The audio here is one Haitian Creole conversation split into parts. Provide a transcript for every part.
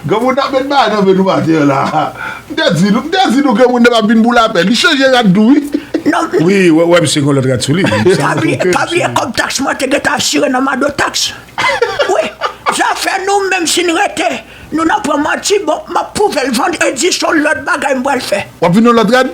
Granmounda met bagay nan men nou maten an la M te di nou, m te di nou granmounda pa vin pou lapè Li chanje rad tou wi Wi, ou wè misye gen yon lòt rad sou li Pa bliye, pa bliye kòb taks mwen te gentan asire nan mado taks Wi, zafè nou menm si n rete Nou nan pran manti bon M ap pwouve l vandredi s on lòt bagay m pral fè Wap vin yon lòt rad?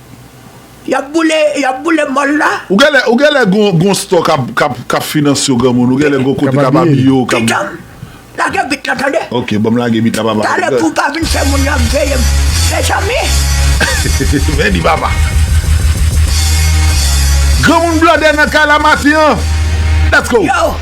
Yap boule yap boule mall la. Ou genlè ou genlè gon gon stò kap kap kap finanse w granmoun ou genlè gon kote kap abiye w kap. Pitanm lage bit la tande. Ok banm lage bit la papa. Tale pou pa vin fè moun yo ap veyem mezanmi. Mèdi papa. Granmoun blandè nan kay la maten an let's go.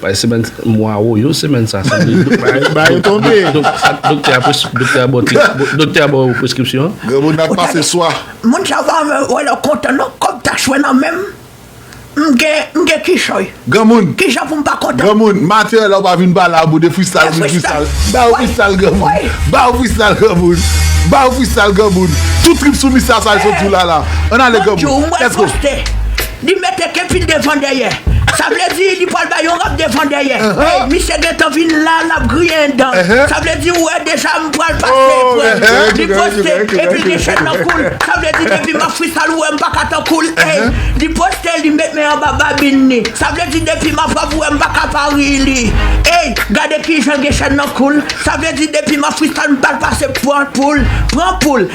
Bay semèn mwa ou yo semèn sa sanble bay yo tonbe doktè a bò ti doktè a bò ou preskripsyon granmoun nan ap pase swa moun sa pa wè lè w kontan non kòm tachwè nan men m m gen m gen kichòy granmoun kijan pou m pa kontan granmoun matè lè w pa vin ba la boude fristal vin fristal ba yo fristal granmoun ba yo fristal granmoun ba yo fristal granmoun tout trip sou mista sa l sot sou lala ann ale granmoun lètgo. Li mete kepil devan dèyè. Sa vle di li pwal bay yon rap devan dèyè Ey misye gentan vin la lap griyen yon dan Sa vle di ou wè deja m pwal pase epwèl Li poste epil gen chèn nan koul Sa vle di depi map fristal ou wè m paka tan koul Ey li poste li met men anba babin li Sa vle di depi map rap ou wè m paka pa ri li Ey gade kijan l gen chèn nan koul Sa vle di depi map fristal m pral pase pran poul Pran poul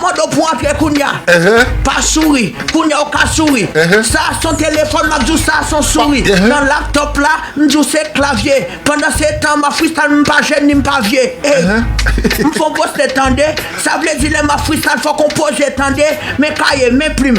Mado pou antre kounya pa souri kounya ou ka souri sa a son telefòn map di w sa a son souri nan laptop la m di w se klavye pandan se tan map freestyle m pa jèn ni m pa vye ey m fon poste tande sa vle di lè map freestyle fòk ou poze tande men kaye men plim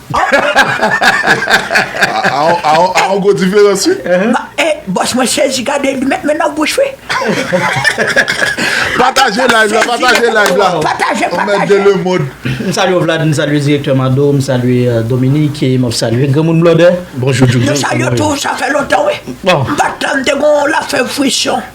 A yon gwo diferans wi. E bòs mwen sezi gade li met men nan bouch wi. Pataje live la pataje live la. Pataje pataje. M salye w Vlad m salye direktè Mado m salye Dominik e m ap salye granmoun blòdè. Bonjou Djoudjou. Nou salye w tou sa fè lontan wi. M pa t la m te gen yon lafèv frisyon.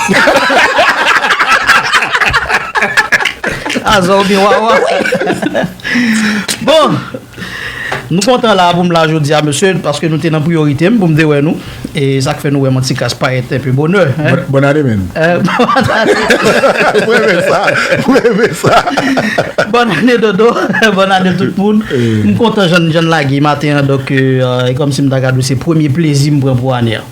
Aza ou byen wawa. Bon, nou kontan la pou m la jodi a mesye, paske nou te nan priyorite m pou m te wè nou. E sa k fè nou wè m an ti kras payèt enpe bonè. Bòn ane men. Bòn ane. Mwen renmen sa. Mwen renmen sa. Bòn ane dodo. Bòn ane tout moun. M kontan jan n lage maten an, donk e kòm si m ta gad ou se premye plezi m pran pou ane an.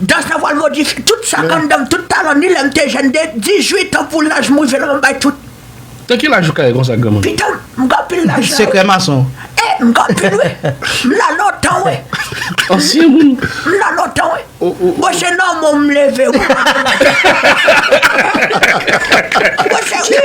Dans nan vwal modi fi tout sak anndanm tout talan ni lèm te jèn de 18 an pou laj mwen rive la mwen bay tout. Nan ki laj ou kare konsa granmoun. Pitanm m gen anpil lajan wi. Sekrè mason. E m gen anpil wi. M la lontan wi. Ansyen moun. M la lontan wi. Bon se nòmal m leve wi. Bon se wi.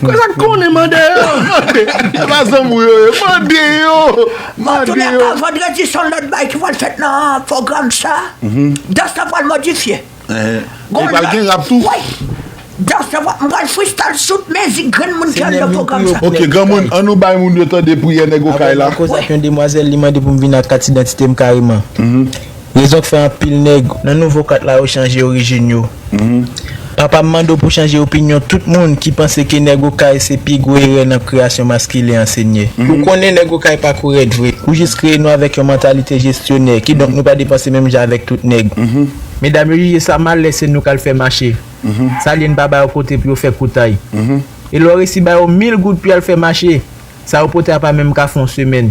Kwen sa k konnen mande yo. Se pa zanmi w yo ye. Mande yo. Mande yo. Antouka, vandredi son lòt bagay ki pral fèt nan pwogram sa. Dans la pral modifye. E pral gen rap tou? Wi. Dans la pral, m pral freestyle tout mizik granmoun ki anndan pwogram sa. Ok granmoun, an nou bay moun yo tande priyè nèg okay la. Avan m nan koze ak yon demwazèl li mande pou m vin ak kat idantite m kareman. Rezon k fè anpil nèg. Nan nouvo kat la yo chanje orijin yo. Papa m mande w pou chanje opinyon tout moun ki panse ke nèg okay se pi gwo erè nan kreyasyon maskilen an senyè. Ou konnen nèg okay pa kou rèd vre. Ou jis kreye nou avèk yon mantalite jestyonè, kidonk nou pa depanse menm jan avèk tout nèg. Medam yo jije sa mal lè se nou k al fè mache. Sa l ye n pa ba yo kote pou yo fè koutay. E lè w resi ba yo mil goud pou y al fè mache, Sa yo pote a pa menm ka fè yon semèn.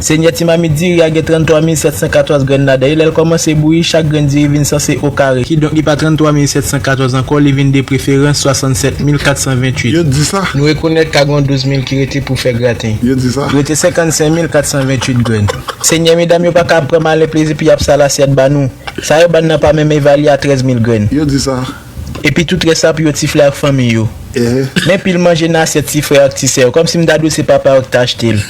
Senyè ti mamit diri a gen 33 mil 714 grenn ladan e lè l kòmanse bouyi chak grenn diri vin sanse o kare. Kidonk li pa 33 mil 714 ankò li vin de preferans 67 mil 428. Yo di sa. Nou rekonèt ka gen yon 12 mil ki rete pou fè graten. Yo di sa. Rete 55 mil 428 grenn. Senyè medam yo pa ka ap pran malen plezi pou y ap sal asyèt ba nou. Sa yo ba n nan pa menm evalye a 13 mil grenn. Yo di sa. Epi tout rès la pou yo ti frè ak fanmi yo. Men pil manje nan asyèt ti frè ak ti sè yo. Kòm si m ta dwe se papa yo ki ta achte l.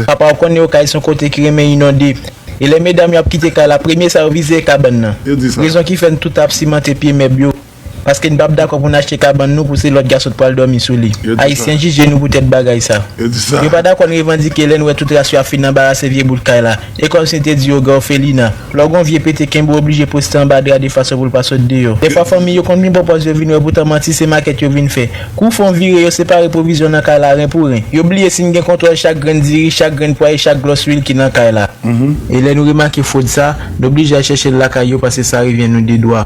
Papa w konnen yo kay se yon kote ki renmen inonde. E lè medam yo ap kite kay la, premye sa yo vize e kabann nan. Rezon ki fè n tout ap simante pye mèb yo. Paske n pap dakò pou n achte kabann nou pou se lòt gason k pral dòmi sou li. Ayisyen jije nou poutèt bagay sa. Yo pa dakò n revandike lè n wè tout ras yo ap fin anbarase vye bout kay la. E kòm si n te di yo gen òfelina. Lò gon vye pete kenbe w oblije poste anba dra de fason pou l pa sot deyò. Dèfwa fanmi yo konn vin pwopòz yo vin wè poutan manti se makèt yo vin fè. Kou fon vire yo separe pwovizyon nan kay la ren pou ren. Yo bliye si n gen kontwòl chak grenn diri, chak grenn pwa e chak glòs luil ki nan kay la. E lè nou remake fwod sa, n oblije al chèche l lakay yo pase sa revyen nou de dwa.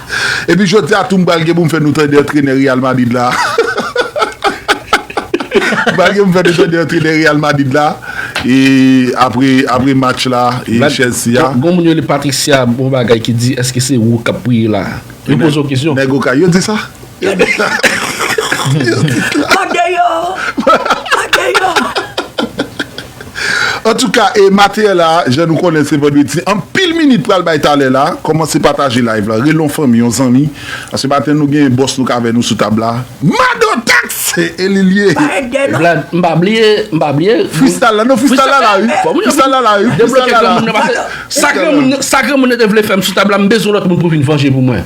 Epi jodi a tou m pral gen pou m fè nou tande antrenè Real Madrid la. M pral gen pou m fè nou tande antrenè Real Madrid la e apre apre match la e Chelsea a. Gon moun yo rele Patricia bon bagay ki di eske se ou kap priye la? Yo poze w kesyon. Nèg okay yo di sa? Antouka e materyèl la jan nou konnen se vandredi anpil minit pral bay talè la kòmanse pataje live la rele yon fanmi yon zanmi paske maten nou gen bòs nou k avè nou sou tab la Mado tax e li l ye Vlad m pa bliye m pa bliye Freestyle la non freestyle la la wi freestyle la la wi Debloke granmoun nan pase sa granmoun nan te vle fè m sou tab la m bezwen lòt moun pou vin vanje pou mwen.